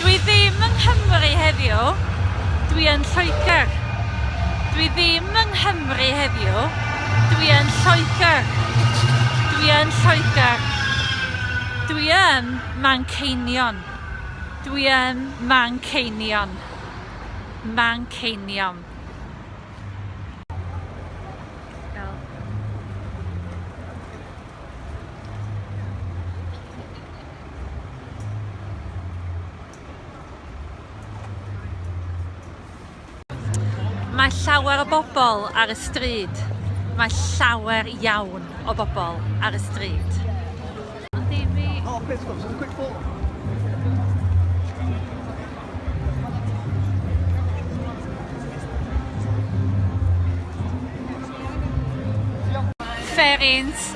Dwi ddim yng Nghymru heddiw, dwi yn Lloegr. Dwi ddim yng Nghymru heddiw, dwi yn Lloegr. Dwi yn Lloegr. Dwi yn Manceinion. Dwi yn Manceinion. Manceinion. Mae llawer o bobl ar y stryd. Mae llawer iawn o bobl ar y stryd. Oh, pits clubs, it's a quick fall. Ferins